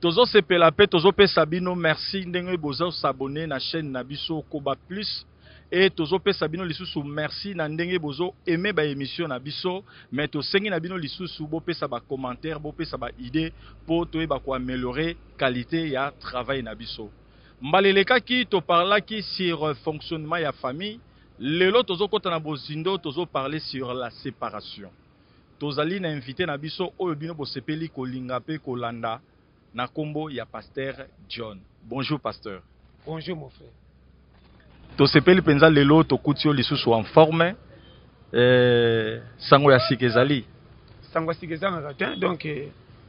Tozo sepela pe tozo pesa bino merci ndenge bozo s'abonner na chaine na biso koba plus et tozo pesa bino lisusu merci na ndenge bozo aimer ba emission na biso mais tosengi na bino lisusu bo pesa ba commentaires bo pesa ba idees po toyeba ko ameliorer qualite ya travail na biso. Mbala elekaki to parlaki sur fonctionnement ya famille, lelo tozo kota na bozindo tozo parler sur la separation. Tozali na invite na biso oyo bino bosepeli kolinga pe kolanda na kombo ya Pasteur John. Bonjour Pasteur. Bonjour mon frère. Tosepeli penza lelo tokuti yo lisusu en forme. Eh, sango ya sika ezali. Sango ya sika ezangaka te donc eh,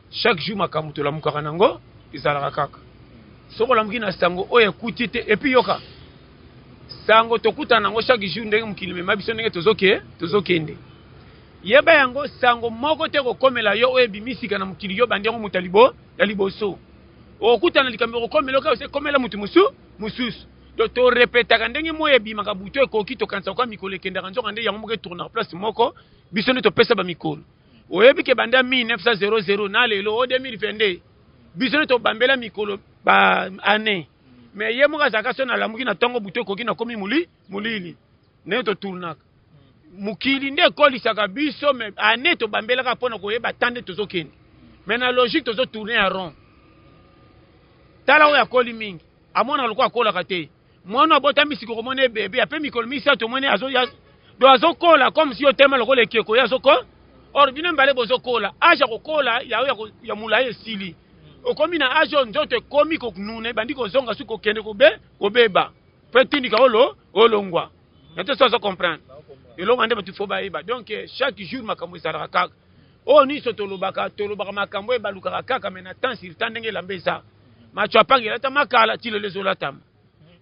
Chaque jour makambo tolamukaka nango ezalaka kaka. Soki olamuki na sango oyo ekuti te et puis yoka sango tokutana nango chaque jour ndenge mokili mema biso ndenge tozoke tozokende. Yeba yango sango moko te kokomela yo oyo ebimisika na mokili yo bandi yango moto ya libo ya liboso. Okutana likambo ekokomela yo kaka ose komela moto mosu mosusu. Donc to repetaka ndenge moyi ebimaka butu ekoki tokanisa kwa mikolo ekendaka nzoka nde yango moko etournaka place moko biso nde topesa ba mikolo. oyebi ke banda 1900 na lelo o 2022 biso nde tobambela mikolo ba année mais ye moko azalaka so nalamuki na ntongo butu ekoki nakomi moli molili ndenge toturnaka mokili nde ekolisaka biso me année tobambelaka mpo na koyeba ta nde tozokende mais na logique tozotourne ya rond tala oyo akoli mingi amona lokola akolaka te mwana abotami sikoyo komona ebebe ape mikolo misato omoni azoya do azokola comme si otema lokola ekeko ye azoko or bino mibale bozokola age ya kokola yayo ya molai esili okomi na age oyo nzoto ekomi konuna ebandi kozonga soki kokende kobe kobeba mpo etindika olo olongwa na te so azo comprendre elonga nde bato fo bayeba donc chaque jour makambo ezalaka kaka oyo niso tolobaka tolobaka makambo oyo balukaka kaka me na temps sur temps ndenge elamba eza macho apanga elatama kala ti lelo ezolatama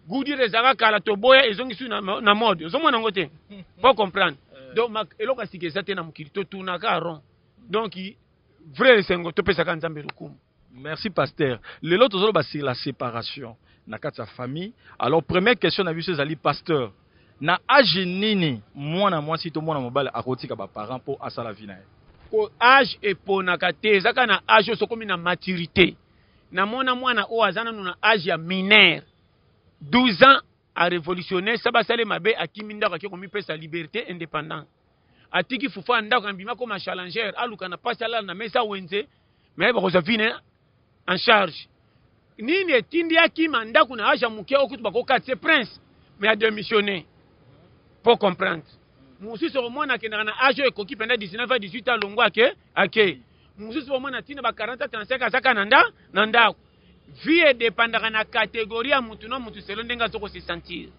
gudire ezalaka kala toboya ezongisi na, na mode ozomona yango te po comprendre eh. donc eloko ya sika eza te na mokili totunaka rond donc vrai esengo topesaka nzambe lokumu Merci pasteur. Lelo tozoloba sur la séparation na kati ya famille. Alors première question na biso ezali pasteur. Na age nini mwana mwasi to mwana mobali akotika ba parents mpo asala vie na ye? Ko age eponaka te, ezaka na age oso komi na maturité. Namona mwana oyo aza nanu na age ya mineur 12 ans a révolutionner sa basale mabe akimi ndako ake komipesa liberté indépendant atiki fufa ndako na bima koma challenger aluka na pasi alala na mesa wenze me bakozwa vie na en charge nini etindi akima ndako na age ya moke okutu bakokati se prince me ademissionne po comprendre mosusu okomona akendaka na age oyo ekoki mpenza 19 a 18 a longwa ake ake mosusu okomona ntina ba 40 35 azaka na nda na ndako vie edepandaka na kategori ya motu na motu selo ndenge azo kosesentir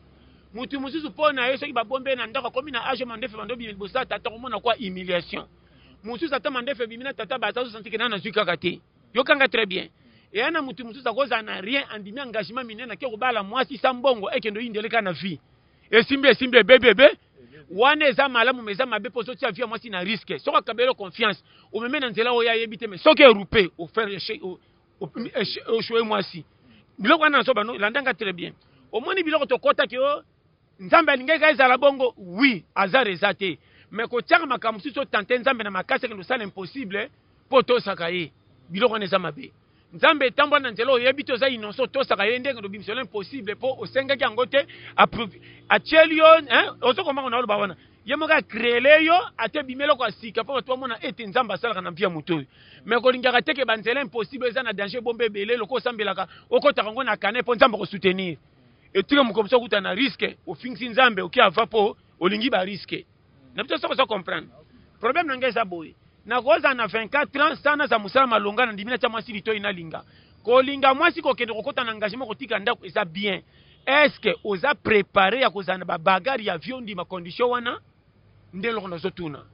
motu mosusu mpo na ye soki babombe na ndako akomi na age mandefe bandobi liboso ya tata okomona kwa humiliation mosusu ata mandefu ebimi na tata baza zosantikena na nazwi kaka te yokanga très bien eya na motu mosusu akozala na rien andimi engagement minene ake kobala mwasi sa mbongo ekende oyindele kaka na vie esimbi esimbi ebebi ebe wana eza malamu ma eza mabe mpo ozotia vie ya mwasi na riske soki akabelo confiance omeme na nzela oyo ayebi te me soki erupe ofere oshoe mwasi biloko wana nazoba landanga très bien omoni biloko tokotaki o oh, Nzambe alingaki ezala bongo oui hasard eza te mais kotiaka makambo mosusu otante Nzambe na makasi akende kosala impossible mpo otosaka ye biloko wana eza mabe Nzambe etambwa na nzela oyebi te oza inonso otosaka ye ndenge obimisola impossible mpo osengaki yango te atieli yo ozokomaka na oloba wana ye moko akreele yo ate ebimi eloko ya sika mpo bato bamona ete nzambe asalaka na mpia moto oyo me kolingaka te ke banzela impossible eza na danger ebombe ebele loko osambelaka okotaka yango na kane mpo nzambe akosoutenir etika moko biso kuta na risque ofingisi nzambe oke ava po olingi ba risque na biso soko so comprendre problème na ngai eza boye nakozala na 24 ans sana naza mosala malonga na ndimi natya mwasi litoi nalinga kolinga mwasi kokende kokota na engagement kotika ndako eza bien est ce que oza prepare ya kozala na babagare ya viondi ma condition wana Nde eloko nazo tuna.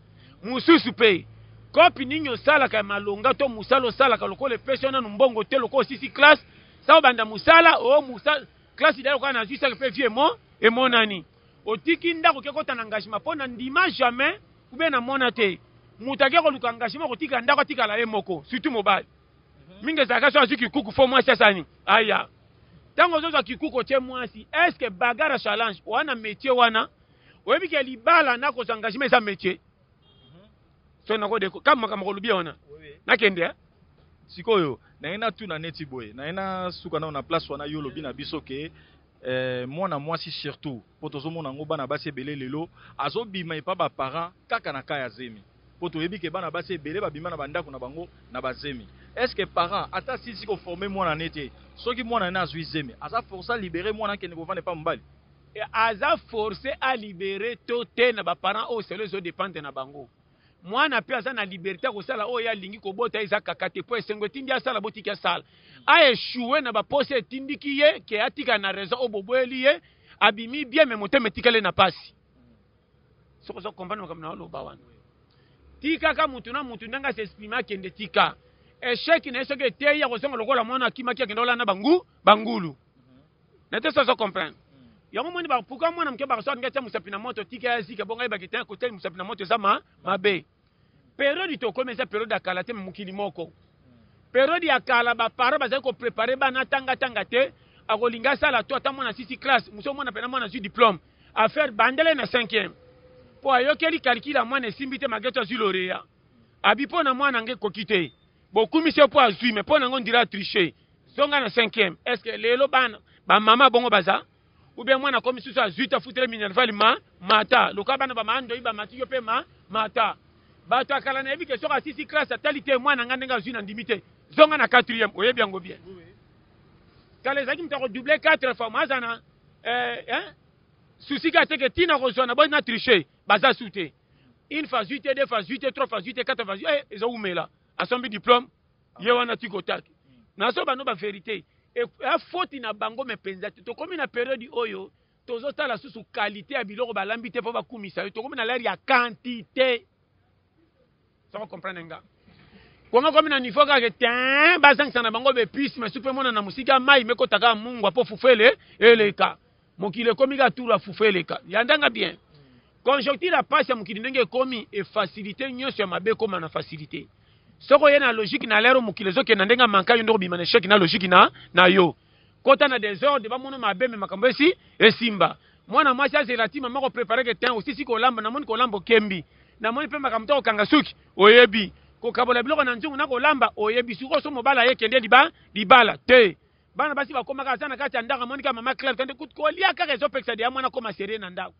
Mususu pe, coop nini osalaka ya malonga to musala osalaka lokola epesi yo nanu mbongo te lokola osilisi classe, sa obanda musala oh musala classe deja lokola nazui sac pe vie emo emonani. Otiki ndaku oke kota na engagement po na ndima jamais ou bien na mona te mutu ake koluka engagement ko tika ndaku atikala ye moko surtout mobali. Mingi ezalaka soki azui kikuku faut mwasi asala nini? Aya. Tango ozo zua kikuku otie mwasi est ce que bagarre ya challenge oa na metier wana? oyebi ke libala na kozwa engagement eza métier mhm. so nako deko kama makambo kolobi wana nakende eh? sikoyo naye natuna neti boye naye nasuka nao na place wana yo olobi na biso ke eh, mwana mwasi surtout mpo tozomona yango bana basi ebele lelo azobima epa baparent kaka na ka ya zemi mpo toyebi ke bana basi ebele babima na bandako na bango na bazemi est ce que parent ata asilisi koforme mwana ne te soki mwana ne azwi zemi aza force alibere mwana akende kovanda epa mobali Aza force a libere to te na ba parents oyo selo ezo dependre na bango. Mwana pe aza na liberte ya kosala oyo ye alingi kobota eza kaka te po esengo etindi asala botiki asala. A echoue na ba posa etindiki ye ke atikala na raison oyo boboyeli ye abimi bien mais motema etikali na pasi. Soki ozo comprendre makambo nazo loba wana. Tikaka mutu na mutu ndenge a s'exprimer akende tika. Echec na ye soki eteyi akozonga lokola mwana akimaki akenda kolala na ba ngulu. na te soso comprendre yango moni ba pourquoi mwana moke bakaso alingi atia mosapi na moto tika ya zika bongo ayebaki te kotia mosapi na moto eza ma mabe periode tokomi eza periode ya kala te mokili moko periode ya kala baparent bazali koprepare bana atangatanga te akolinga asala to ata mwana sisi classe mosusu omona mpena mwana azwi diplome affaire bandele na cinquième mpo ayokeli calcule ya mwana esimbi te malgre to azwi loreya abi mpo na mwana yango ekoki te bokumisi ye mpo azwi me mpo na yango ndira atriche zonga na cinquième est ce que lelo bana bamama bongo baza ubien mwana akomi susu azwi te afutele minervale ma mata lokola bana bamandoi bamati yo mpe ma mata bato akala nayebi ke soki asisi classe atali te mwana ngai ndenge azwi na ndimi te zonga na quatrième oyebi yango bien kala ezalaki moto akodouble quatre fois moaza na eh, eh, susi kaka teke ntina kozwa na boi na triche baza su te une fois zui te deux fois zui te trois fois zui te quatre fois zui eh, ezo wumela asombi diplome ye wana tiko otaki nazo bano ba verité ya foti na bango me mpenza te tokomi na periode oyo tozotala susu kalite ya biloko balambi te mpo bakumisa yo tokomi na lere ya kantite Soko comprendre nga. Kongo komi na niveau kaka tein bazangisa na bango bepuce mais supe mona na musika mai mekota kaka mungwa po fufu ele eleka mokili ekomi kaka turu ya fufu eleka yandanga bien conjoncture ya pasi ya mokili ndenge ekomi efacilite nyonso ya mabe ekoma na facilite soko oye na logique na lero mokili ezokenda ndenge amanka yo nde obima na echec na logique na, na yo kota na desordre bamono mabe me makambo esi esimba mwana mwasi azela ti mama koprepare ke tin osisi kolamba namoni kolamba okembi namoni mpe makambo to kokanga suki oyebi kokabola biloko na nzungu na kolamba oyebi sikoyo so mobala ye kende liba libala te bana basi bakomaka aza na kati ya ndako amoni kaka mama claire kende kolia kaka ezopekisa deya mwana akoma serie na ndako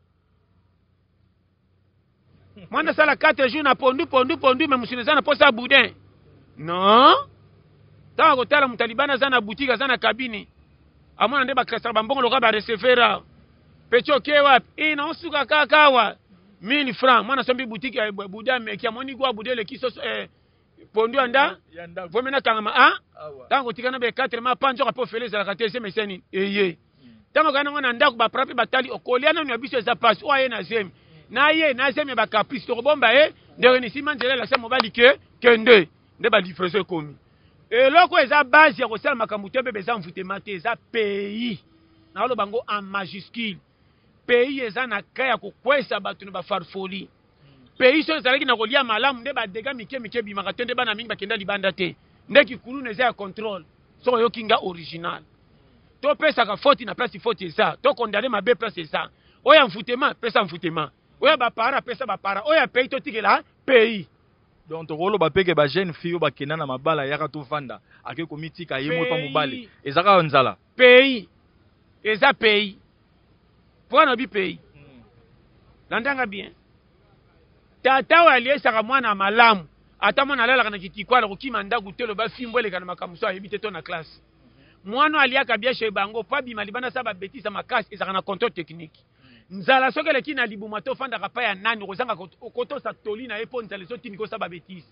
mwana asala 4 jours na pondu pondu pondu me mosuni eza na mposa ya boudin non ntango akotala moto alibani aza na butike aza na kabini amona nde bakresaka bambongo lokola barecevera peti oke wapi e na osuka kaka awa 1000 franc mwana asombi butike ya eh, buda meki amoni gwa buda eleki soso eh, pondu ya nda vomi nakangama a ntango otika na bekatre ma pa nzoka mpe ofele ezalaka te zemi ese nini eye ntango okai nango na ndako bapara mpe batali okolia nanu ya biso eza mpasi oyo aye na zemi na ye na zemi ya bacaprice tokobomba ye ndenge nisima nzela elakisa mobali ke kende nde balivraison ekomi eloko eza base ya kosala makambo te bebe eza mvutema te eza pays naoloba yango en majuscule pays eza na cas ya kokwesa bato na bafarfoli pays soki ezalaki na kolia malamu nde badega mike mike ebimaka te nde bana mingi bakenda libanda te nde kikuluna eza ya contrôle soki oyoki nga original topesaka foti na place foti eza tokondane mabe place eza oyo ya mfutema pesa mfutema oyo ya bapara pesa bapara oyo ya pays totikela pays donc tokoloba mpe ke bajeune fille oyo bakenda na mabala yaka tovanda ake komitika ye moko mpa mobali eza kaka nzala Pays eza pays pourquoi nalobi pays landa nga bien tata oyo aliesaka mwana malamu ata mwana alalaka na kitikwala kokima ndako te loba fimbo eleka na makambo so ayebi te to na classe mwana aliaka bien chez bango mpo abima libanda sa babetisa makasi ezalaka na controle technique nzala soki eleki na libuma to ofandaka pa ya nani okozanga kotosa toli na ye mpo nzala ezotindika osala babetise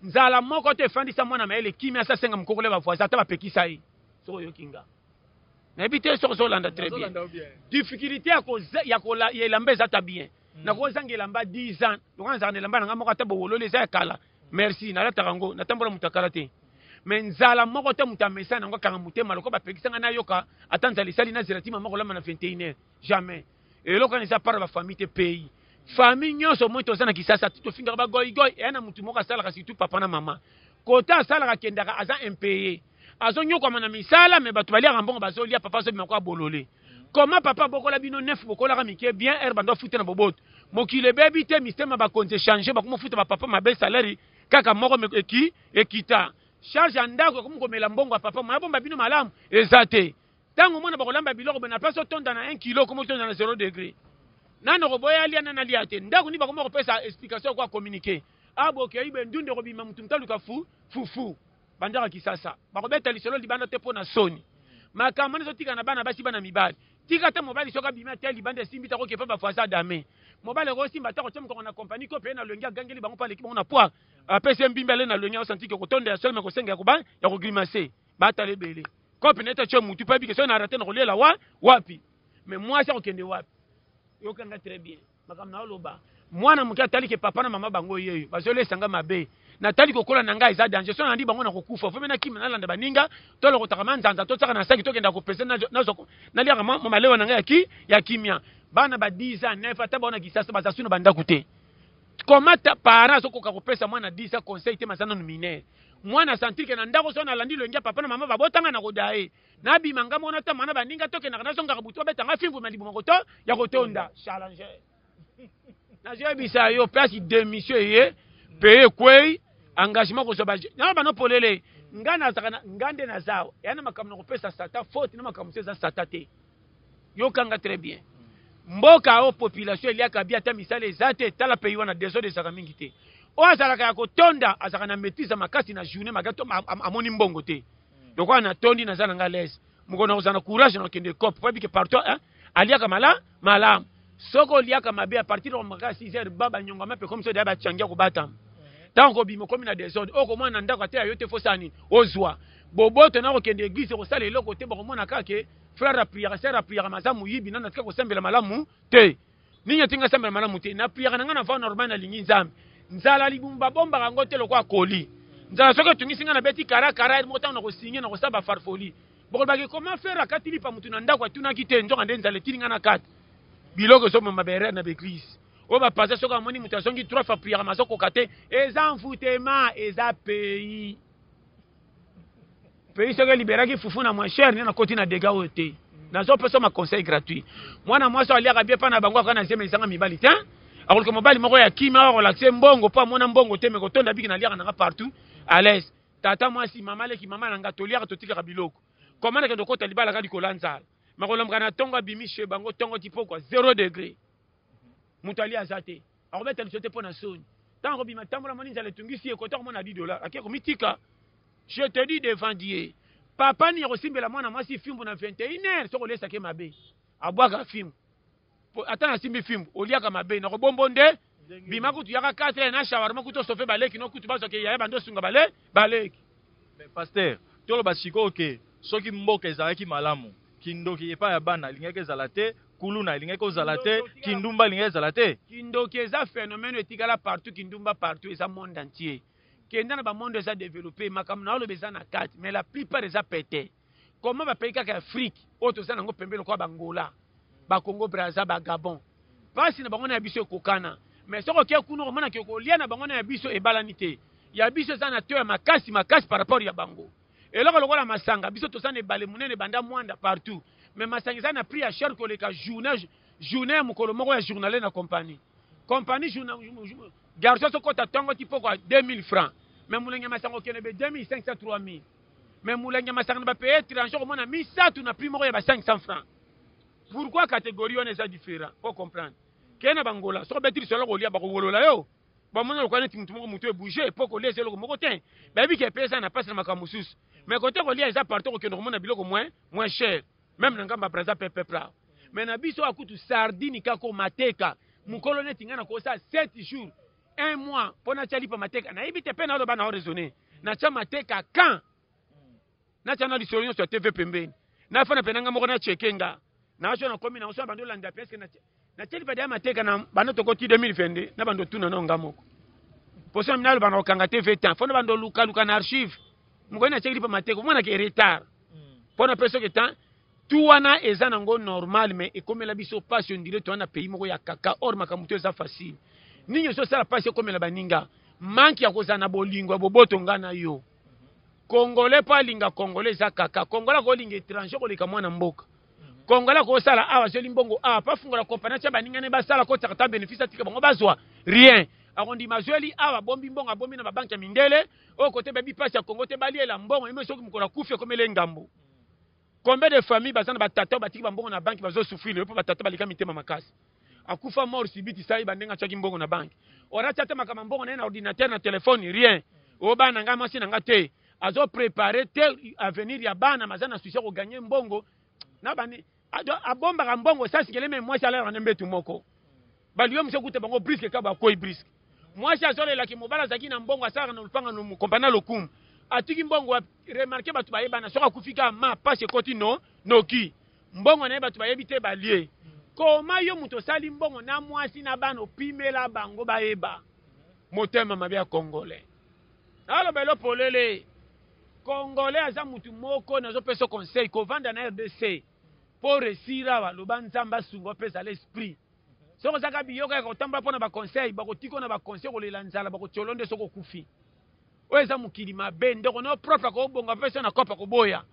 nzala moko to efandisa mwana mayele kimia asa asenga mokokole bavoisin ata bapekisa ye soki oyoki nga nayebi te soki ozolanda très bien difficulté ya elamba eza ta bien hmm. nakozanga elamba 10 ans lokola nazalaka na elamba na ngai moko ata bowololi eza ya kala merci nalataka yango natambola moto ya kala te me nzala moko te moto amesana yango akanga motema lokola bapekisa ngai nayoka ata nzala esali nazela tima moko olamba na 21 heure Jamais. Eloko wana eza part ba famille te pays. Famille nyonso moi toza na Kisasa tofingaka ba goy goy eya na mutu moko asalaka surtout papa na mama. Kota asalaka kendaka aza impayé. Azo nyokwama na misala mais bato baliaka mbongo bazo lia papa azo bima kwa bolole. Comment papa bokola bino neuf bokolaka mike bien heure bando futa na boboto. Mokili ebebi te mistema bakonzi changer bakomo futa ba papa mabe salaire kaka moko eki ekita. Charge ya ndako ekomi komela mbongo ya papa moya bomba bino malamu eza te. Tango omona bakolamba biloko na place otonda na 1 kilo comme otonda na 0 degre. Nani okoboya alia nani alia te. Ndaku nini bakoma kopesa explication ko communiquer. Ah bokei boye ndunda ekobima mutu mutu aluka fu fufu. Bandaka kisasa. Bakobeta lisolo libanda te po na soni. Makambo wana ezotika na bana basi bana mibali. Tika ata mobali soki abimi ata ye libanda esimbi te akoki epa ba voisin adame. Mobali akoki osimba ata kotia mokongo na compagnie ko peye na loyenge agangeli bango po aleki bango na poids. Apesi ye mbimbi alei na loyenge azo sentir que kotonda ya solo mais kosenga ya koba ya ko grimacer. batala ebele kope na ete atye motu mpe abike soki na rate na kolela wa wapi me mwasi akokende wapi yokanga très bien makambo na oloba mwana moke atali ke papa na mama bango yeyo bazolesa nga mabe natali kokola na ngai eza danger so nalandi bango na kokufa fo mpe nakima nalanda baninga tolokotaka manzanza totyaka na saki tokenda kopese naliaka malewa na ngai ya kimia bana ba 10 ans 9 ata baona kisasa baza su na bandako te comment parent azokoka kopesa mwana 10 ans conseil te maza nanu minere mwana centrique na ndako so nalandi loyenge ya papa na mama babotanga na kodaye nabima nga mona ta mana baninga tokendaka nazongaka butu babetanga fimbu ma libuma koto ya kotonda challenge nazoyebisa yo place demission eye peye ekwei engagement kozwa ba na bano polele nga nazaka nga nde nazawa ya na makambo na kopesa sata faute na makambo so eza sata te yokanga très bien mboka oyo population eliaka bi ata misala eza te tala pays wana desordre ezalaka mingi te oyo azalaka ya kotonda azalaka na maîtrise makasi na journée maka to amoni mbongo te hmm. lokola natondi naza na nga lese mokolo na kozala na courage na okende cope po abike partout hein? aliaka mala malamu soki oliaka mabe a partir ya maka 6 heures ba banyongama mpe komi so deya bachangia kobatama hmm. ntango kobima okomi na desordre oyo komona na ndako ata ya yo te fosani ozwa boboto na kokende eglise kosala eloko te bakomona kaka Frère a prière, sœur a prière, maza muyibi nana tika kosambela malamu te. Nini otinga sambela malamu te? Na prière nanga na va normal na lingi Nzambe. Nzala libumba bomba kango te lokwa koli. Nzala soki otungisi nga na beti kara kara mo tango na kosinye na kosaba farfoli. Bokolobaki comment faire akati lipa mutu na ndako atunaki te nzoka nde nzala etini nga na kati. Biloko ezo mama bere na beglise. Oyo ba pasteur soki amoni mutu azongi trois fois prière mazo kokate eza envoutema eza pays. pays soki eliberaki fufu na moins cher nde nakoti na dega oyo te nazopesa ma conseil gratuit mwana mwasi oyo aliaka bie mpa na bango akoka na zema ezanga mibali te akoluka mobali moko ya kima oyo akolakisa mbongo mpo amona mbongo te me kotonda biki naliaka nanga partout à l'aise tata mwasi mama leki mama na nga toliaka totikaka biloko koma na kende okota libala ka likolo ya nzala makolomoka na ntongo abimi chez bango ntongo ti mpokwa zero degre moto ali aza te Akobeta biso te pona soni. Tango akobima tambola moni nzala etungisi ye kota komona 10 dollars ake komitika. Je te dis devant Dieu. Papa ni akosimbela mwana mwasi fimbu na 21h soko lesa ke mabe. Abwaka fimbu. Ata na simbi fimbu oliaka mabe na kobombo nde bima kutu yaka 4 na shawarma kutu sofe baleki no kutu bazo ke yaya bando sunga bale baleki. Mais pasteur toloba sikoyo ke soki mboka ezalaki malamu kindoki epai ya bana alingaki ezala te. kuluna elingaki kozala te kindumba elingaki ezala te kindoki eza phénomène etikala partout kindumba partout eza monde entier kenda na bamonde eza développé makambo na oloba eza na kati mais la plupart eza pete koma bapayi kaka afrique oyo toza nango pembe lokola bangola bakongo braza bagabon mpasi na bango na ya biso ekokana mais soki oke kuna okomona ke kolia na bango na ya biso ebalani te ya biso eza na to ya makasi makasi par rapport ya bango Eloko lokola masanga biso toza na ebale munene banda muanda partout mais masanga eza na prix ya cher koleka journee journee ya mukolo moko ya journale na compagnie compagnie journee garçon azo kota tongo ti pokwa 2000 francs mais mulangi ya masanga okende be 2500 3000 mais mulangi ya masanga na ba pays étranger okomona misatu na prix moko ya ba 500 francs pourquoi catégorie wana eza différent po comprendre kende na bangola soki obeti lisolo kolia bakowolola yo bamona lokola neti motu moko motu ebouge mpo kolia eza eloko moko te bayebi ke mpe eza na mpasi na makambo mosusu mais kote kolia eza partout kokende komona biloko moins moins cher meme na ngambo ya braza mpe peuple awa mais na biso awa kutu sardine kako mateka mokolo neti ngai nakosa 7 jours un mois mpo natya lipa mateka nayebi te mpe naloba na oraisonne natya mateka quand Natya na lisolo nyonso ya TV pembeni. Nafana mpe na nga moko na cheke nga. Na so na komi na so na bando landa peske na na teli bada mateka na bando tokoti 2022 na bando tuna na nga moko. Poso na loba na kokanga TV temps. Fona bando luka luka na archive. Moko na cheke lipa mateka. Mwana ke retard. Pona peso ke temps tout wana eza nango normal mais ekomela biso pasi ondire towana pays moko ya kaka or makambo to eza facile nini ozosala pasi ekomela baninga manke ya kozala na bolingo ya boboto nga na yo congolais mpo alinga congolais eza kaka congolais akolinga étranger koleka mwana mboka congolais akosala awa azweli mbongo awa mpo afungola kompani atya baninga ne basala kotiaka ta bénéfice atika bango bazwa rien akondima azweli awa abombi mbongo abombi na babanke ya mindele oyo kote bayebi mpasi ya kongo te baliela mbongo yemei soki mokolo akufi ekomeli engambo Combien de famille baza na ba tata batiki ba mbongo na banque bazo souffrir lelo po ba tata baleka mitema makasi. Akufa mort subite sai ba ndenge atiaki mbongo na banque. Or atia te makama mbongo na ye na ordinateur na telephone rien. O bana nga mwasi na nga te azo preparer te avenir ya bana maza na souci ya ko gagner mbongo na bani abombaka mbongo sasi keleme mwasi alalaka na mbetu moko. Bantu yo mse kuta bango briske kaba akwei briske. Mwasi azolela ki mobala azaki na mbongo asaka na lupanga no mukompa na lokumu. Atiki mbongo wapi? Remarke batu bayebana soki akufi ka ma pasi ekoti no noki. Mbongo naye batu bayebi te balie. Koma yo mutu osali mbongo na mwasi na bana opimela bango bayeba. Motema mabe ya kongole. Naloba elo polele. Kongole aza mutu moko nazo peso conseil kovanda na RDC. Po resira wa loba nzambe asunga opesa l'esprit. Soki oza kaka biyoka ya kotambola mpo na baconseil, bakotika na baconseil kolela nzala, bakotiola nde soki okufi. Oyo eza mokili mabe, ndeko no propre akobonga mpe so na kopa koboya.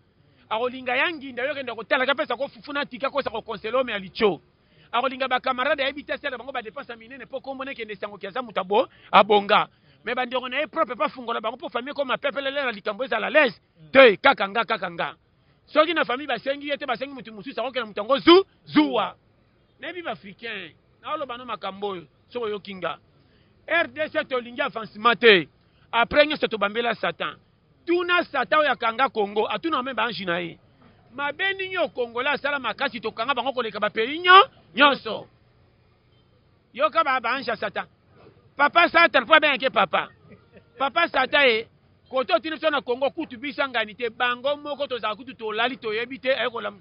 Akolinga ya nginda yo kenda kotala ka pesa ko fufu na tika kosa ko conseil homme ya licho. Akolinga ba camarade ayebi te asala bango ba dépense minene mpo kombo na kende sango ki aza moto abo abonga. Mais ba ndeko na ye propre pa fungola bango mpo famille koma pepele lela likambo ezala les te kaka nga kaka nga. Soki na famille basengi ye te basengi moto mosusu akokela moto yango zu zuwa. Nayebi ba africains nao loba no makambo oyo soki oyoki nga rdc tolingi avancement te après nyonso tobambela satan tuna satan oyo akanga congo atuna meme baange na ye mabe nini oyo kongola asala makasi tokanga bango koleka bapays nyo nyonso yoka ba baange ya satan papa satan mpo abengaki ye papa papa satan ye kote otini biso na congo kutu bisangani te bango moko tozala kutu tolali toyebi te aye kolamu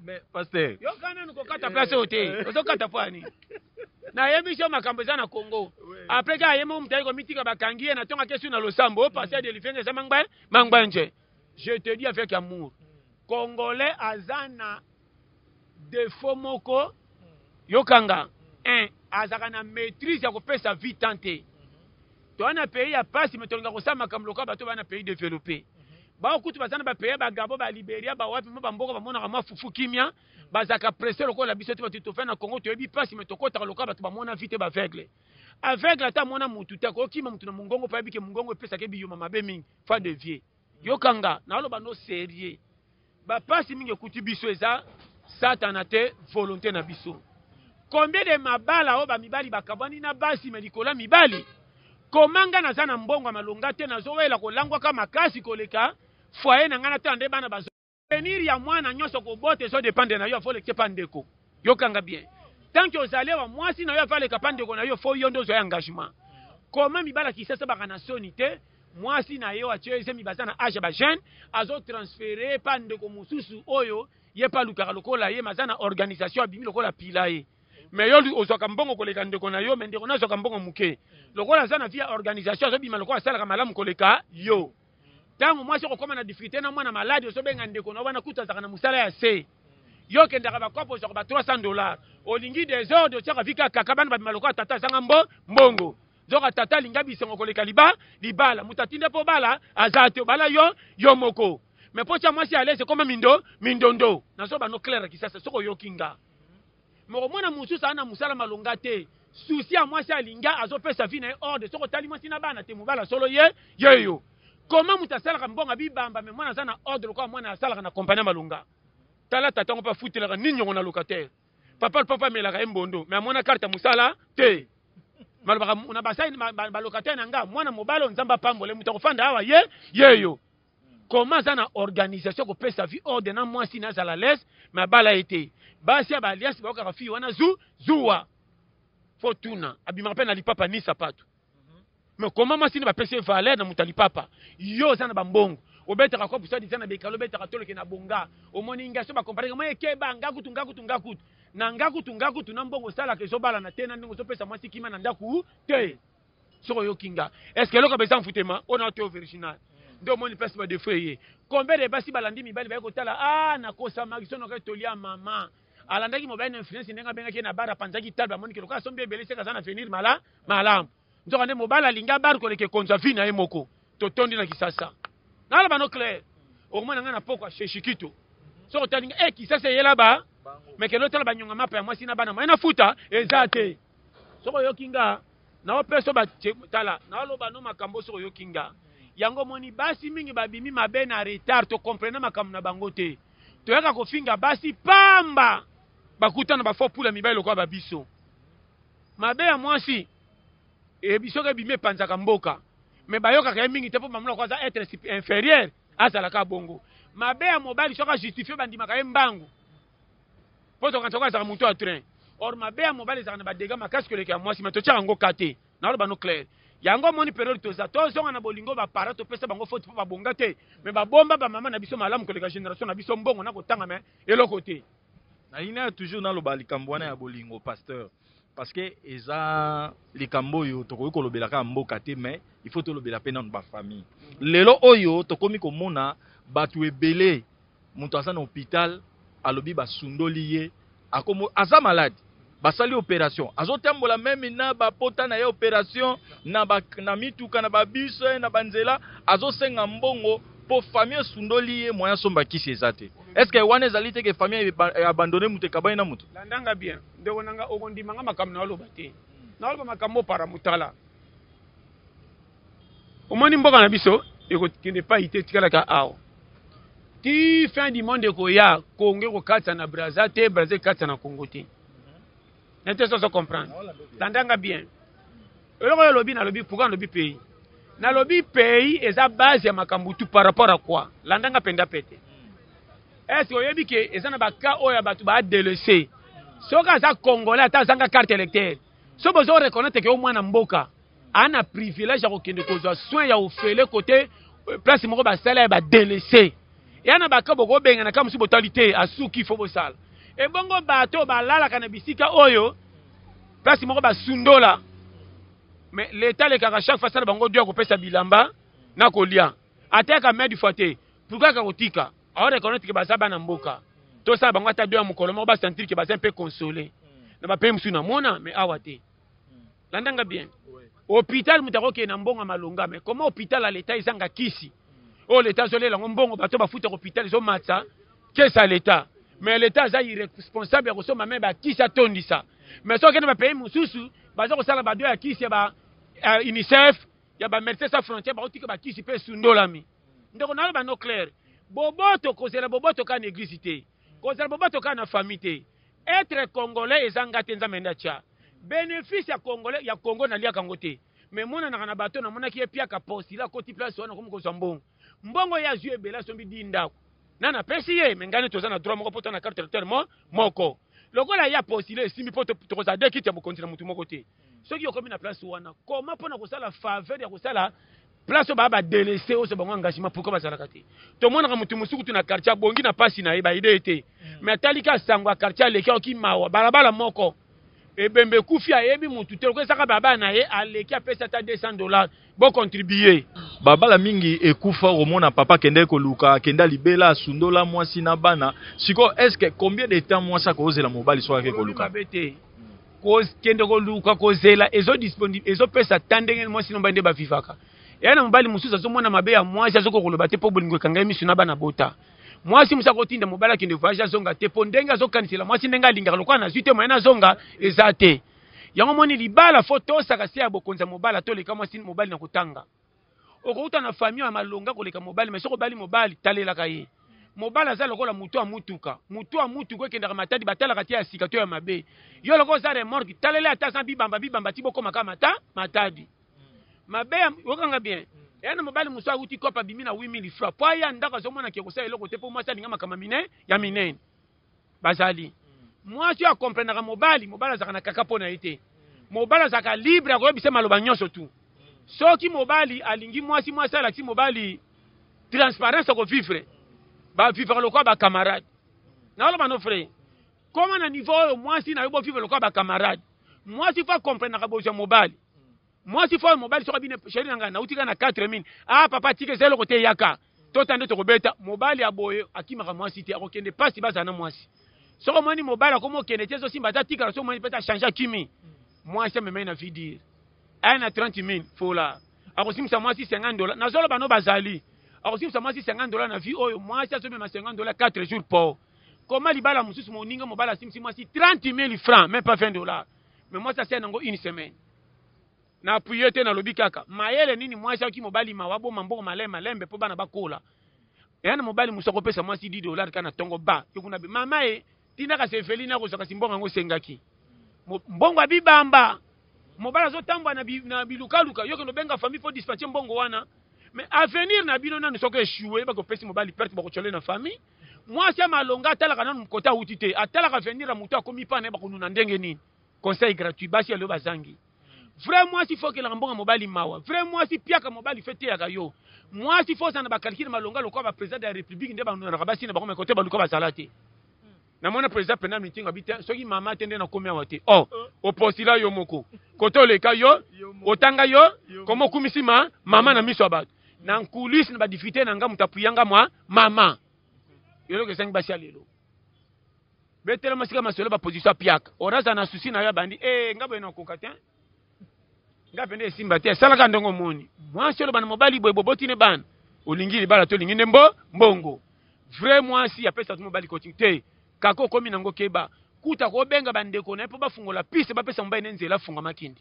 Mais pasteur. Yo kana nanu kokata place oyo te. Eh. Ozo kata pwani. Na yebi sio makambo eza na Congo. Après ka yemo mutali ko mitika bakangi ye na tonga kesu na losambo o pasteur de lifenge za mangba mangba nje. Je te dis avec amour. Congolais aza na défaut moko yokanga. Un, azaka na maîtrise ya kopesa vie tante. toza na pays ya pasi me tolinga kosala makambo lokola bato baa na pays developpe bao kutu baza na bapays ba gabo ba liberia bawapi mwa bamboka bamonaka mwa fufu kimia bazalaka presse lokola biso te bato tofai na congo toyebi pasi me tokotaka lokola bato bamona vite baveugle aveugle ata amona mutu te akokima mutu na mongongo mpo ayebike mongongo epesaka ebiyuma mabe mingi fa de vieux Yoka nga na loba no serieux ba pasi mingi ekuti biso eza satana te volonte na biso combien de mabala oyo ba mibali bakabwani na basi me likolo ya mibali koma nga naza na mbongo ya malonga te nazowela kolangwaka makasi koleka foyer na nga na tala nde bana bazo Avenir ya mwana nyonso kobota ezo dependre na yo faut lekite pa ndeko. Yokanga bien. Tant que ozalewa mwasi na yo ava leka pa ndeko na yo faut yo nde ozwa engagement. Comment mibala kisasa baka na soni te mwasi na yo atio ezemi baza na age ba jeune azo transfere pa ndeko mosusu oyo ye pa lukaka lokola ye maza na organisation abimi lokola pila ye. Mais yo ozwaka mbongo koleka ndeko na yo mais ndeko na azwaka mbongo moke. Lokola aza na vie ya organisation azobima lokola asalaka malamu koleka yo. ntango mwasi okokoma na difficulté na mwana maladi ozobenga ndeko na wana kutu azalaka na mosala ya se yo okendaka bakope ozwaka ba 300 dollars olingi desordre otyaka vika kaka bana babima lokola tata azanga mbo mbongo nzoka tata alinga bisengo koleka liba libala moto atinde mpo obala aza te obala yo yo moko me mpo tya mwasi alese ekoma mindo mindondo nazoba no claire kisasa soki oyoki nga Mais omona mususu aza na musala malonga te souci ya mwasi alinga azopesa vie na ye ordre soki otali mwasi na bana te mobali ya solo ye yeyo koma moto asalaka mbongo bibamba me mwana aza na ordre lokola mwana asalaka na kompani ya malonga tala tata yango mpe afutelaka nini yango na locataire papa lpapa amelaka ye mbondo me amona karte ya mosala te malobaka na basai balocataire na nga mwana mobali oyo nzambe apambole moto akofanda awa ye yeyo koma aza na organisation kopesa vie ordre na mwasi na azala lese me abala ye te basi ya baaliasi baokaka fille wana zu zuwa fo tuna abimaka mpe na lipapa ni sapato me koma mwasi nde bapesi ye valeur na moto ya lipapa yo oza na bambongo obetaka kopo sadi eza na bekalo obetaka toloke na bonga omoni nga so bakompareke mwa ekeba nga kutu nga kutu nga kutu na nga kutu nga kutu na mbongo osalaka ezobalana te na ndenge ozopesa mwasi kima na ndako te soko yo kinga est ce que eloko beza mfutema ona oto virginal nde omoni place ba defo eye combien de basi balandi mibali baye kotala ah nakosa makisono ka toli ya mama alandaki mobali na influence ndenge abengaki ye na bar apanzaki talbe amoniki lokola asombi ebele seka aza na avenir mala malamu nzoka nde mobali alinga bar koleka ekonza vi na ye moko totondi na kisasa naloba no claire okomona ngai na pokwa sheshikito soki otalinga e eh, kisasa eyela ba mekende otala banyonga mapa ya mwasi na bana mwaye na futa eza te soki oyoki nga Nao peso ba tala nao loba no makambo soki oyoki nga yango omoni basi mingi babimi mabe na retard to comprena makambo na bango te toyaka kofinga basi pamba bakutana ba faux pula mibali lokola ba biso mabe ya mwasi eyebi soki ebimi epanzaka mboka me bayokaka ye mingi te mpo bamona ko aza etre inférieur azalaka bongo mabe ya mobali soki ajustifie bandimaka ye mbangu mpo tokanisa yango azalaka moto ya train or mabe ya mobali ezalaka na badega makasi koleka ya mwasi mai totyaka yango ka te naloba no claire yango omoni periode toza tozonga na bolingo baparent topesa bango foti mpo babonga te me babomba bamama na biso malamu koleka génération na biso mbongo na kotanga me eloko te nalingi nayo toujours naloba likambo wana ya bolingo pasteur parce que eza likambo oyo tokoki kolobela kaka mboka te mais il faut tolobela mpe nano bafamille lelo oyo tokomi komona bato ebele Mutu aza na hopital alobi ba sundoli ye akomo aza malade basali operation azotambola meme na ba pota na ye operation na ba na mituka na ba bus na ba nzela azosenga mbongo po famille esundoli ye moyen asomba kisi eza te est-ce que wana ezali te que famille e abandonner mutu ekabani na mutu landa nga bien ndeko na nga okondima nga makambo na oloba te na oloba makambo para mutala omoni mboka na biso ekokende epai te etikalaka awa ti fin du monde ekoya kongo ekokatisa na braza te braza ekatisa na kongo te na te soso comprendre tandanga bien eloko oyo olobi nalobi pourkui nalobi pays nalobi pays eza base ya makambo tu par rapport à quoi landanga mpenza pete est ce que oyebi ke eza na baka oyo ya bato baadelese soki aza congolais ata azanga carte électeur so bozo reconnaître ke yo mwana mboka ana privilège ya kokende kozwa soin ya ofele kote euh, place moko basala ya badelese ya na baka bokobengana kaka mosusu botali te asuki fo bosala ebongo bato oyo balalaka na bisika oyo place moko basundola me leta alekaka chaque fois asala bango dio akopesa bilamba na kolia ateyaka medi fois te pourkui aka kotika aorekonetre ke baza bana mboka tosala bango ata dio ya mokolo moko basentir ke baza mpe console na bapaye mosusu namona me awa te landa nga bien hôpital moto akokende na mbongo ya malonga mais comment hôpital ya leta ezanga kisi oyo oh, leta azolela yango mbongo bato bafutaka hôpital ezomatisa kesi ya leta mais leta aza irresponsable ya kosomba me bakisi atondisa mais soki okende bapays mosusu baza kosala bado ya kisi ya ba uh, unicef ya bamédecin sans frontière bakotika bakisi mpe esundolami ndeko nayo bano claire boboto kozela boboto kaka na eglise te kozela boboto kaka na famille te Etre congolais eza nga te nzambe nde atia benefice ya congolais ya congo na liaka ngo te mais emonanaka na bateau na monaki ye piaka po sila akoti place wana akomi kozwa mbongo mbongo ye azwi ebele asombi di ndako na napesi ye mais ngai nde toza na droit moko po toza na carte electeur mo moko lokola ye apostile esimbi po tokozala de kiti ya bokonzi na motu moko te soki okomi na place wana koma mpona kosala faveur ya kosala place oyo baa badelese oso bango engagement pourkoi bazalaka te tomonaka motu mosusu kutu na quartier abongi na mpasi na ye baide ye te hmm. mais atali ka sango ya quartier aleki aoki mawa balabala moko ebembe ekufi ayebi motu te lokola esaka balabala na ye aleki apesi ata 200 dollars bo contribuer babala mingi ekufa okomona papa akendaki koluka akenda libela asundola mwasi na bana sikoyo est ce que combien de temps mwasi akozela mobali soki ake koluka te kokende koluka kozela ezopesa ta ndenge mwasi na mobali nde bavivaka eya na mobali mosusu azomona mabe ya mwasi azokoka koloba te mpo bolingo ekangai miso na bana bota mwasi mosusu akotinda mobali akende voyage azonga te mpo ndenge azokanisela mwasi ndenge alingaka lokola nazwi te moyena azonga eza te yango omoni libala fo tosaka se ya bokonzi ya mobala toleka mwasi mobali na kotanga okouta na famille ya malonga koleka mobali me soki obali mobali talelaka ye mobali aza lokola moto ya motuka moto ya motuka ekendaka matadi batalaka te ya sika to ya mabe yo lokola oza remorke talela ata aza bibamba bibamba ti bokomaka mata matadi mabe okanga bien ena mobali mosusu awuti kopa abimi na 8000 francs mpo aya ndako azomonaki ekosala eloko te mpo mwasi alinga makambo mine ya minene bazali mwasi oyo akomprenaka mobali mobali azalaka na kaka mpo na ye te mobali azalaka libre ya koyebisa maloba nyonso tu soki mobali alingi mwasi mwasi alakisi mobali transparence akovivre bavivaka lokola bacamarade naoloba no frai koma na niveau oyo mwasi na yo bovivre lokola bacamarade mwasi fo akomprenaka bozwa mobali mwasi fo mobali soki abine sheri na ngai nauti kaka na 4 mine ah papa tika eza eloko te yaka tota nde tokobeta mobali ya boye akimaka mwasi te akokende mpasi bazala na mwasi soki omoni mobali akomi okende te ezosimba ata tikala soki omoni mpete achange akimi mwasi amemai na vidire aya na 30 mine fola akosimisa mwasi 50 dola nazoloba no bazali akosimisa mwasi 50 dola na vie oyo mwasi azomema 50 dola 4 jours po koma libala mosusu moninga mobali asimisi mwasi 30 mille francs même pas 20 dollars mais mwasi asali nango une semaine Na appuie te nalobi kaka mayele nini mwasi ayoki mobali mawa aboma mbongo malembe malembe po bana bakola eya na mobali mosusu akopesa mwasi 10 dollars kaka na tongo ba yo kuna be mama e tina kasi eveline akozwa kasi mbongo yango osengaki mbongo ya bibamba mobali azotambwa na, bi, na bilukaluka yo kende obenga famille po dispatche mbongo wana mais avenir na bino nanu soki echoue bakopesi mobali perte bakotyole na famille mwasi ya malonga atalaka nanu mokota awuti te atalaka avenir ya moto akomi pana ye bakonuna ndenge nini conseil gratuit basi ya lelo bazangi vrai mwasi fo okelaka mbongo ya mobali mawa vrai mwasi piaka mobali fo eteyaka yo mwasi fo ozala na bakalkile malonga lokola bapresident ya république nde banonaka basi na bango me kote baluka bazala te namona president pena mitingo abi te soki mama te nde nakomi awa te o oh, oh. opostila yo moko kote oleka yo otanga yo koma okumisi ma mama na miso ya bato na nkulisi na badifite na nga moto apuyanga mwa mama eloko ezangi basi ya lelo Betela masika masolo ba position piaka. Oraza na souci na yo abandi. Eh nga boye na koka te. Nga pende esimba te. Salaka ndenge omoni. Mwasi oloba na mobali boye boboti ne bana. Olingi libala to olingi nde mbo mbongo. Vrai mwasi apesa tu mobali coaching te. Kako okomi nango keba. Kuta ko benga ba ndeko na ye po bafungola piste bapesa mobali ne nzela afunga makindi.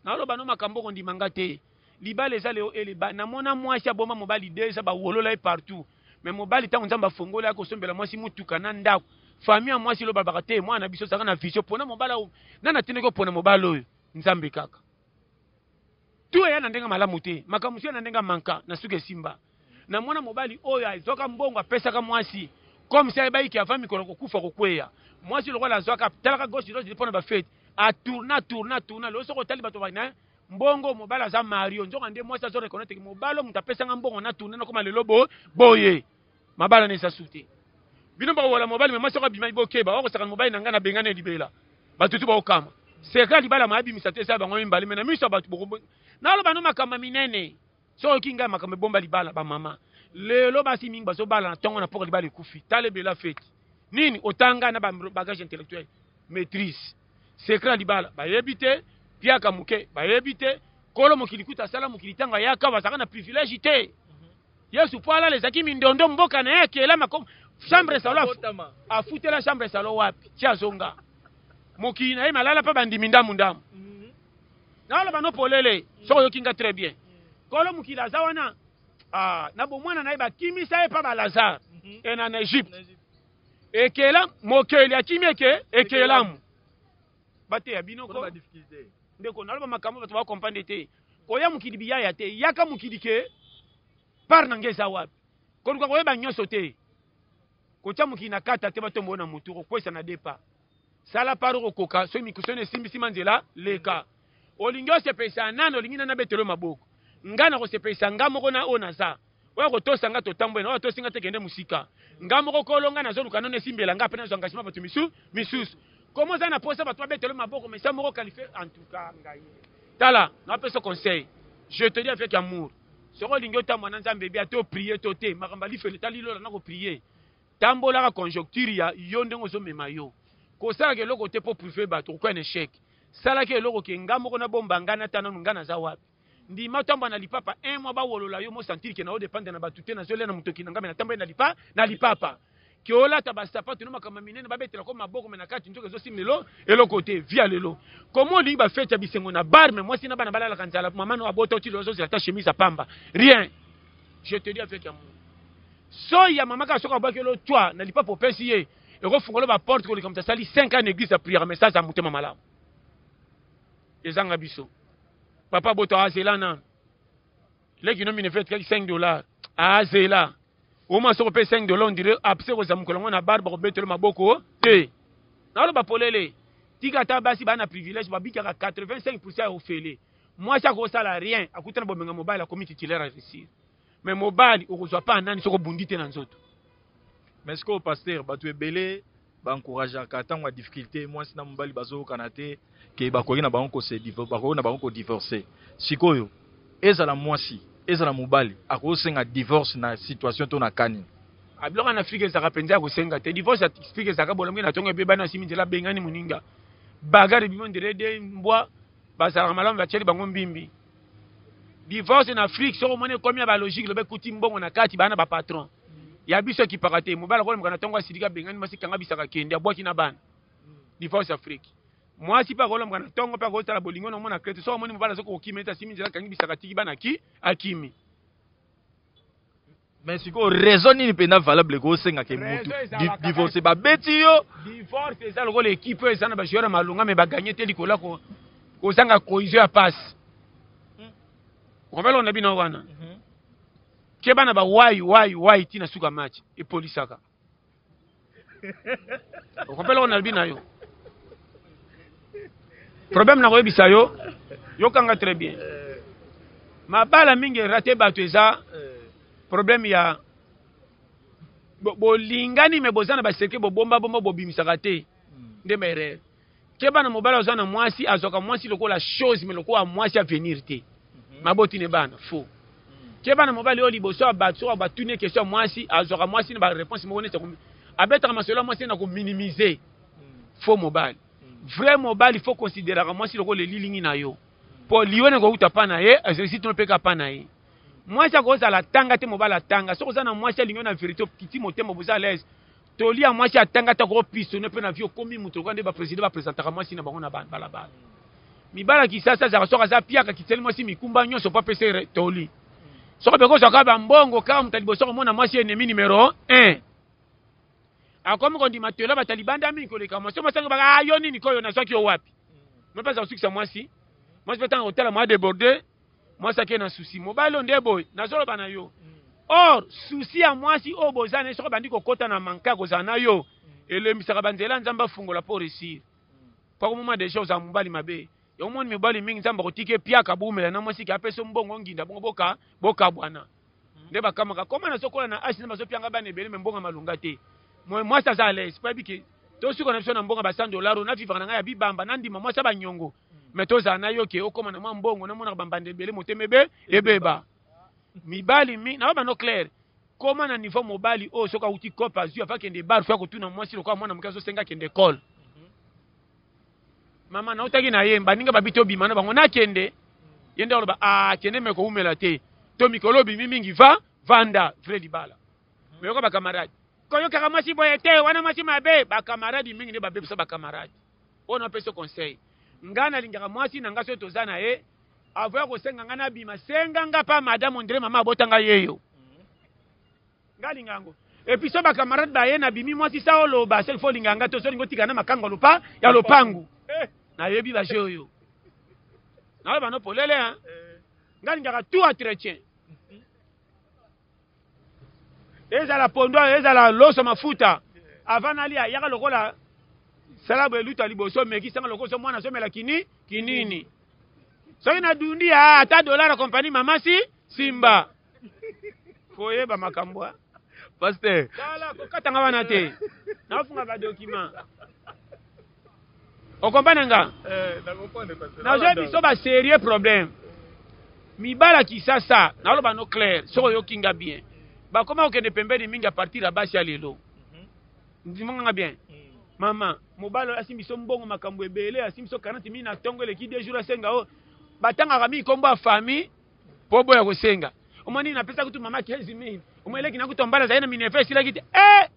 Naloba no makambo oko ndima nga te libala eza leo ele ba na mona mwasi aboma mobali deja ba wolola ye partout mais mobali tango nzambe afongola ya kosombela mwasi mutuka na ndako famille ya mwasi loba baka te mwana na biso zaka na vision pona mobala oyo na na tino ko pona mobala oyo nzambe kaka tu eya na ndenge malamu te makambo mususu ya na ndenge manka na suka esimba na mwana mobali oyo azwaka mbongo apesaka mwasi comme ça ayebaki ke avant mikolo kokufa kokweya mwasi lokola azwaka talaka gauche droite mpo na bafete atourna tourna tourna lelo soki otali bato bana mbongo mobali aza mario nzoka nde mwasi azo reconnaître ke mobali oyo moto apesanga mbongo na tourne nakoma lelo bo boye mabala na eza sute bino bakowola mobali me mwasi oko abimaki bokeba okosaka mobali na ngai nabengani ya libela bato tu baokama sekla libala mayabimisa te eza bango mibale me na miso ya bato naloba no makambo minene Soki oyoki ngai makambo ebomba libala ba mama. Lelo basi mingi bazo bala na tongo na poka libala ekufi. Tale bela feti. Nini otanga na ba bagage intellectuel maîtrise. Secret ya libala bayebi te. Piaka muke bayebi te. Kolo mokili kuta asala mokili tango ayaka bazaka na privilège te. Mhm. Yesu po alala ezaki mindondo mboka na ye akela makom chambre salo afutela chambre salo wapi ti azonga mokili na ye malala pa bandimi ndamu ndamu Naloba no polele soki oyoki nga très bien. Kolo mokili aza wana ah, na bomwana na ye bakimisa ye mpa ba Lazare mhm. e na na Egypte ekela mokeli akimi eke ekelamu bateya bino ko ndeko naloba makambo bato bakomprendre te koya mokili biyaya te yaka mokili ke part na nge eza wapi koluka koyeba nyonso te kotya mokili na kata te batombo na motu kokwesa na depa Sala part oko koka soki mikusoni esimbi sima nzela leka. Olingi osepelisa nani olingi nani abetela yo maboko. Nga nako sepelisa nga moko na oyo naza. Oya ko tosa nga to tambwela oya tosi nga te kende musika. Nga moko kolo nga nazo luka nanu esimbela nga apres nazo engagement batu misu misusu. Comme oza na posa batu ba betela yo maboko mais sa moko qualifie en tout cas ngayi tala nao pesa conseil je te dis avec amour soki olingi otambwa na nzambe bien to prier to te makambo ya lifelo etali lola nako prier Tambolaka conjocture ya yo ndenge ozo mema yo. Kosalaka eloko te po prouver batu okoki un echec. Salaka eloko ke nga moko na bomba nga nata nanu nga naza wapi. Ndima otambwa na lipapa un mois ba wolola yo mo sentir ke nao dependre na batu te nazo lia na mutoki na nga mais na tamboli na lipa na lipapa. Ke olata ba sapatu no makambo ya minene ba betela ko maboko mais na kati nzoka ezo simba elo eloko te. Vie ya lelo comment olingi ba fete ya bisengo na bar mais mwasi na bana ba lalaka nzala maman no abota oti lelo azo zela ata chemise ya pamba rien. je te dis avec amour soyi ya mama kaka soki abwaki yo lotwa na lipapu opesi ye ekofungola baporte koleka moto asali 5 ans na église ya prière mais saza motema malamu ezanga biso papa boto azela nanu leki no minefet kaki 5 dollar azela oma soko mpe 5 dollar ondire apse kozala mokolo yango na bar bakobetelo maboko te naloba polele tika ata basi baa na privilège babikaka 85 pourcent ya ofele Mwasi akosala rien, akutana bomenga mobali akomi titulaire ya vesire. Mais mobali okozwa pa nani soko bundi te na nzoto. Mais sikoyo pasteur, bato ebele ba encourageaka ntango ya difficulté mwasi na mobali bazoyokana te ke bakoki na bango kose bakoki na bango kodivorce. Sikoyo ezala mwasi ezala mobali akosenga divorce na situation to na kani abiloko na afrika ezalaka mpenza ya kosenga te divorce ya afrika ezalaka bolamuki na ntongo ebebani asimi nzela abengani moninga bagare bimo nderede mbwa bazalaka malamu batieli bango mbimbi divorce na afrique soki omoni ekomi ya balogique loba ekuti mbongo na kati bana bapatron ya biso ekipaka te mobali akolemaka na ntongo asiliki abengani mwasi kanga bisaka kende abwaki na bana divorce afrique mwasi mpe akolemaka na ntongo mpe akotala bolingo na omona krete soki omoni mobali azoki kokima ete asimi nzela akangi bisaka atiki bana ki akimi Mais sikoyo raison nini mpenza valable ko osenga ke mutu divorce babeti yo divorce eza lokola ekipe oyo eza na bajoueur ya malonga me baganye te likolo ya kozanga cohesion ya pasi hmm. okobeloko na bino wana mhm. keba na bawai wai wai ti na suka match epolisaka okopela oyo nalobi na yo problème na koyebisa yo yokanga très bien mabala mingi erate bato eza problème ya bolingani me boza na baseke bobombabomba bobimisaka te nde maerere Keba na mobali aza na mwasi azwaka mwasi lokola chose mais lokola mwasi avenir te mhm. maboti ne bana faux mhm. keba na mobali oyo liboso ya bato soki batuni ye question ya mwasi azwaka mwasi na bareponse moko neti abetaka masolo ya mwasi na kominimize mhm. faux mobali vrai mobali fo consideraka mwasi lokola elilingi na yo mpo liyo na kouta mpa na ye ezalisi tino mpeka mpa na ye mwasi akozala atanga te mobali atanga soki oza na mwasi alingi yo na verité okiti motema boza alaise Toli ya mwasi atanga ata ko pistonner mpe na vie okomi moto lokola nde ba president ba presentaka mwasi na bango na balabala. Mibala kisasa azaka soki aza piaka kiteli mwasi mikumba nyonso mpo apesa toli. Soki beko soka ba mbongo kaka moto liboso komona mwasi ennemi numero 1. Akomi kondima tola ba taliban da mingi koleka mwasi masanga baka ah, yo nini koyo nazwaki yo wapi? Mpe aza kosukisa mwasi. Mwasi mpe tanga kotala mwa deborde mwasi ake na susi mobali oyo nde boye nazoloba na yo or susi ya mwasi oyo boza na ye soki abandi kokɔta na manke ya kozala na yo elembisaka banzela nzambe afungola mpo resir mpo akomoma deja ozala mobali mabe yango moni mibali mingi nzambe akotika epiaka boumela na mwasi ke apesa mbongo nginda bongo boka bokabwana nde bakamaka koma nazokola na asi nzambe azopianga bana ebele me mbongo malonga te mwasi aza alaise mpo ayebi ke tosuka na biso na mbongo ya ba 100 dollar oyo navivaka na ngai ya bibamba nandima mwasi ya banyongo mais tozala na yo ke okoma na mwa mbongo namonaka bambanda ebele motema ebe ebeba mibali mi na babano claire koma na niveau mobali oyo soki awuti cope azwi afa kende bar fo akotuna mwasi lokola mwana moke azosenga kende ekole mama nautaki na ye baninga babi tobima na bango nakende ye nde aloba akende ah, me kowumela te to mikolo obimi mingi va vanda vrai libala meyoka bakamarade koyokaka mwasi boye te wana mwasi mabe bakamaradi mingi nde babebisa bakamaradi Oyo na pesi yo conseil nga na lingaka mwasi na nga soki toza na ye avant ya kosenga nga na bima senga nga pa madame ondire mama abota nga yeyo nga linga yango et puis so ba camarade ba ye na bimi mwasi sa oloba soki fo linga nga to soki ngo tika na makango lopa ya lopangu eh. na yebi ba jeu yo na ba no polele hein eh. nga lingaka tout entretien ezala pondo ezala loso mafuta avant nalia yaka lokola salabu eluta liboso mekisanga lokola so mwana azomela kini kinini soki nadundi ya ata dolar ya kompani mamasi simba koyeba makambo paster tala kokatanga wana te nafunga badokima okompane nga eh, nazwa biso baserieux problème mibala kisasa naloba no claire soki oyoki nga bien bakoma kokende pembeni mingi apartir ya basi ya lelo mhm. ndimanga nga bien mm. mama mobali oyo asimbi biso mbongo makambo ebele asimbi biso 40 mili na ntongo eleki deux jours asenga o batangaka mingi nkombo ya famille mpo boya kosenga omoni napesaki kutu mama 15 mili omoeleki na kutu mbala azali na minerve esilaki te e eh!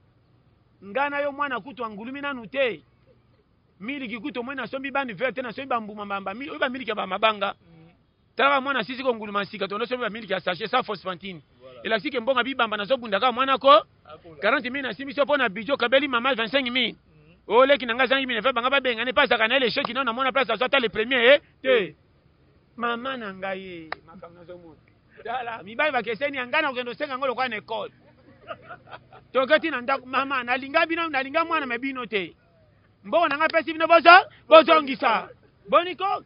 Nga na yo mwana kutu angulumi nanu te. Miliki kutu omoni nasombi bani vert te nasombi bambuma mbamba. Oyo ba miliki ya ba mabanga. Tala ba mwana sisi ko nguluma sika to nasombi ba miliki ya sachet sans phosphantine. Elakisi ke mbonga bibamba nazo bunda kaka mwana ko 40 mille nasimbi so pona bijo kabeli mama 25 mille. Oyo oh, leki nanga zangi mine fe banga babengane pa saka na ele sheki na na mona place azwa ta le premier eh te. Mama na ngai makambo nazo mona. tala mibali bakeseni ya ngai na kokende osenga yango lokola na ekole toketi na ndako mama nalinga bino nalinga mwana me bino te mbongo na ngai apesi bino bozo bozongisa boni ko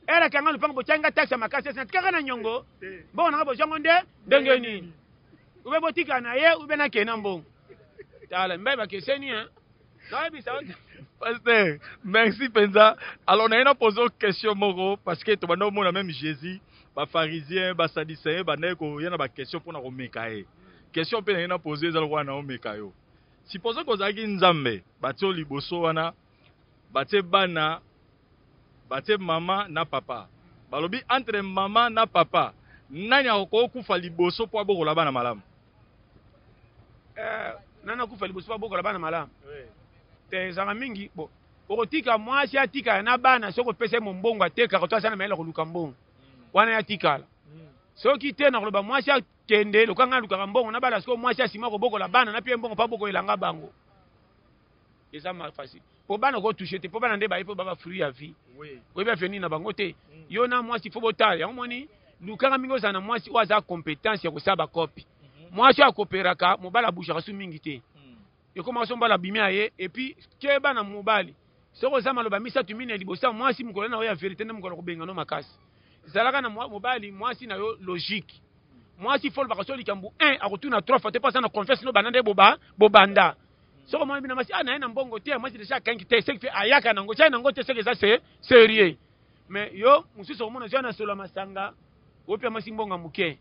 elaki yanga lopango botyaki ngai taxe ya makasi esi natikaka na nyongo mbongo na ngai bozwango nde ndenge nini ube botika na ye ube nakee na mbongo tala mibali bakeseni Pasteur, merci penza. Alors na ena poser question moko parce que to banda omona même Jésus, ba pharisiens, ba sadducéens banda ko yana ba question pona ko meka ye. Question pe na ena poser ezalo kwa na omeka yo. Supposons ko zaki Nzambe, batio liboso wana, batie bana Batie maman na papa. Balobi entre maman na papa nani akoki kufa liboso po abokola bana malamu? Eh, nani akufa liboso po abokola bana malamu? Oui. Te ezanga mingi bo. Okotika mwasi atikala na bana soki opesa ye mombongo atekaka to aza na mayele koluka mbongo. Mm. Wana yatikala. Mm. Soki te nakoloba mwasi akende lokanga alukaka mbongo na bana sikoyo mwasi asima kobokola bana na pie mbongo pa boko elanga bango. eza ma facile po bana ko touche te po bana nde baye po baba fruit ya vie oyebi avenir na bango te mm. yo na mwasi fo botala yango moni lukaka mingi ozala na mwasi oyo aza compétence ya kosala bakopi mhm. mwasi oyo akoperaka mobali abushaka su mingi te mm. ekomaka so mobali abimi ya ye epuis keba na mobali soki oza maloba misato mine liboso ya mwasi mokolo na yo ya verité nde mokolo kobenga no makasi zalaka na mobali mwasi na yo logique mwasi fo olobaka so likambo 1 akotuna 3 fois te mpo aza na confiance no banda nde bobanda soko mwana bina mwasi ah naye na mbongo te mwasi deja akangi te soki ayaka nango tia nango te soki eza se serieux mais yo mosusu okomona zwa na solo ya masanga opia mwasi mbongo moke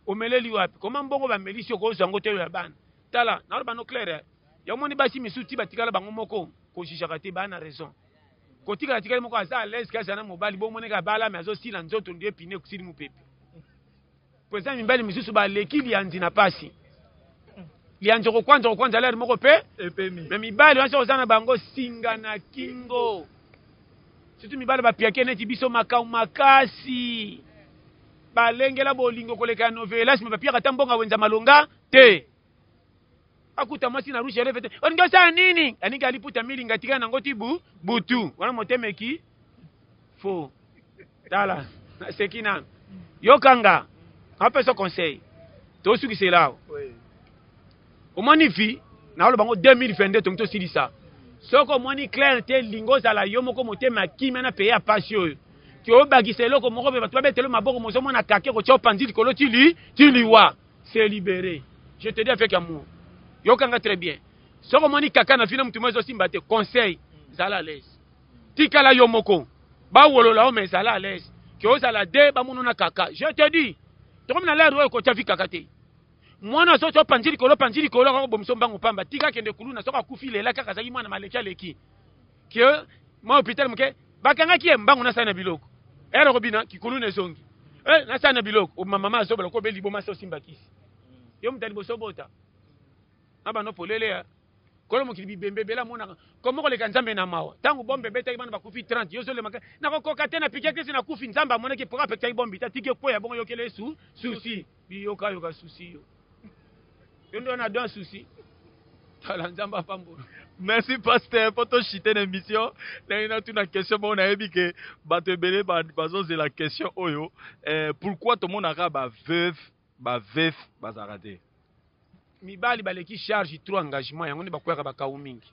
omeleli wapi koma mbongo bamelisi okozwa yango te oyo ya bana tala naloba no claire ya omoni basi misusu ti batikala bango moko kojijaka te baa na raison kotikala tikali moko aza alaise kasi ana mobali bomoneka abalami azosila nzoto ndio epine kusili mopepe Mpo eza mibali misusu baleki liyanzi na pasi. Liyanzi okokwanza okokwanza lere moko mpe epemi. Me mibali wana soki oza na bango singa na kingo. Surtout mibali bapiake neti biso makambo makasi. Balengela bolingo koleka ya novelas me bapiaka ata mbongo ya wenza malonga te. akuta mwasi na rouge ya levete olingi osala nini alingi aliputa milinga tika nango ti bu butu wana motema eki fo tala naseki nanu yokanga apesa conseil tosukisela awa omoni vi naoloba ngo 2022 tongi tosilisa soki omoni claire te linga ozala yo moko motema ya kimia na peye ya pasi oyo ti obakisa eloko moko mpe bato babetelo maboko mozomona kake kotya opanzi likolo ti liwa se liberer je te dis avec amour yoka nga très bien soki omoni kaka na vina motu mo ezosimba te conseil zala à l'aise tikala yo moko bawolola yo mais zala à l'aise ke ozala de bamono na kaka je te dis tokomi na lere oyo kotya vi kaka te mwana azoti opanzi likolo opanzi likolo akakobomisa mbango pamba tika akende kuluna soki akufi lela kaka azalaki mwana maleki aleki que mwa hôpital moke bakangaki ye mbangu na sani na biloko ere okobina kikulu na ezongi eh, na sani na biloko obima mama azoba lokola obe liboma se osimba kisi yo moto ya liboso obota na bando polele ya kolo mokili bibembe ebele amonaka komo koleka nzambe na mawa ntango bombe ebetaki bana bakufi 30 yo ozolemaka nakokoka te na pike kisi nakufi nzambe amonaki mpo apekisaki bombe te atiki ekweya bongo yokela yesu susi Bi yoka yoka souci yo. Yo ndio na don souci. Tala Nzambe apambola. Merci pasteur po to chite na émission ndenge natuna question moko nayebi ke bato ebele bazozela question oyo eh, pourquoi tomonaka ba veuve ba veuf bazalaka te mibali baleki charge trop engagement yango nde bakweyaka bakau mingi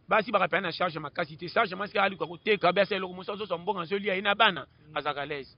basi bakapea na charge makasi te charge mwasi aluka koteka biasa eloko mosusu azozwa mbongo azolia ye na bana azalaka lese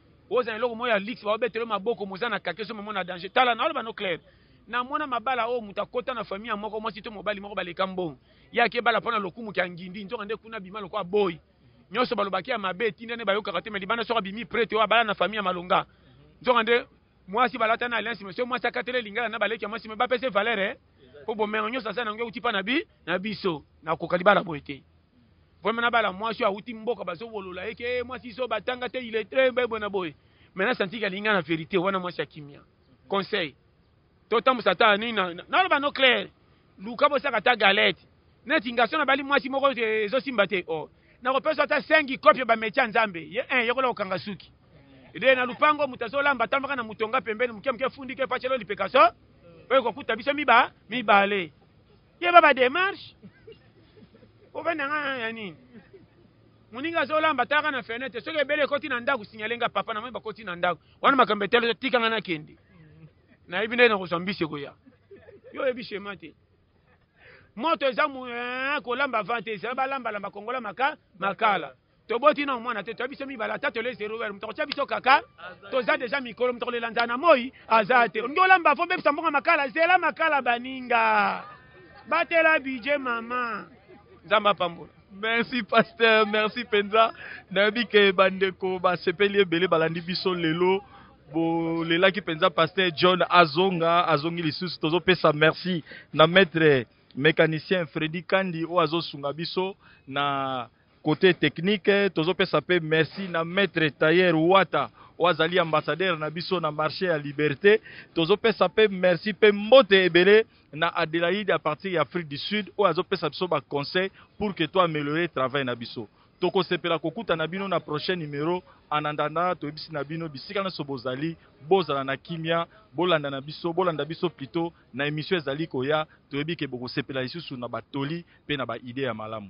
Oza na eloko moko ya luxe baobetela yo maboko moza na kake ezo mema na danger tala na oloba no claire na mwana mabala oyo moto akota na famille ya moko mwasi to mobali moko baleka mbongo ye akebala mpo na lokumu kya ngindi nzoka nde kuna bima lokola boyi nyonso balobaki ya mabe etinda nde bayokaka te me libanda soki abimi prete oyo abala na famille ya malonga nzoka nde mwasi balata na alliance me soki mwasi akatele lingala na baleki ya mwasi me bapese valere eh? mpo bomengo nyonso aza na yango euti mpa na bi na biso nakoka libala boye te Vraiment na bala mwasi awuti mboka bazo wolola ye ke mwasi zo batanga te il est très bien bona boye. Mais na senti ka linga na verite wana mwasi akimia. Conseil. To tambusa ta ni na na loba no clair. Luka bo saka ta galette. Neti ngaso na bali mwasi moko te zo simba te. Oh. Na ko pesa ta sengi kopia ba mecha nzambe. Ye un yoko la okanga suki. Ede na lupango mutazo lamba tambaka na mutonga pembeni muke muke fundi ke pachelo lipekaso. Oyo ko kuta biso miba mibale. yeba ba demarche ovanda nga ya nini moninga azolamba taka na fenêtre soki ebele ekoti na ndako signale nga papa namoni bakoti na ndako wana makambo etali tika nga nakende nayebi nde nakozwa mbisi ekoya yo oyebi shema te moto eza eh, kolamba vante ezala balambalamba kongola maka makala toboti na mwana te toya biso mibale ata tole zero wer moto akotya biso kaka toza deja mikolo moto akolela nzala na moi aza te olingi olamba fo bebisa mbongo makala zela makala baninga batela bidje mama nzambe apambola merci pasteur merci mpenza nayebi ke bandeko basepeli ebele balandi biso lelo bolelaki mpenza pasteur john azonga azongi lisusu tozopesa merci na maître mécanicien fredi kandi oyo azosunga biso na Cote technique tozo pesa pe merci na maitre tailleur Wata oyo azali ambassadeur na biso na marche ya liberte. Tozo pesa pe merci pe mbote ebele na Adelaide à partir ya Afrique du Sud oyo azo pesa biso ba conseil pour que to ameliorer travail na biso. Toko sepela ko kuta na bino na prochain numero en attendant to yebisi na bino bisika nionso bozali bozala na kimia bolanda na biso bolanda biso plutot na emission ezali koya toyebi ke boko sepela lisusu na ba toli pe na ba idee ya malamu.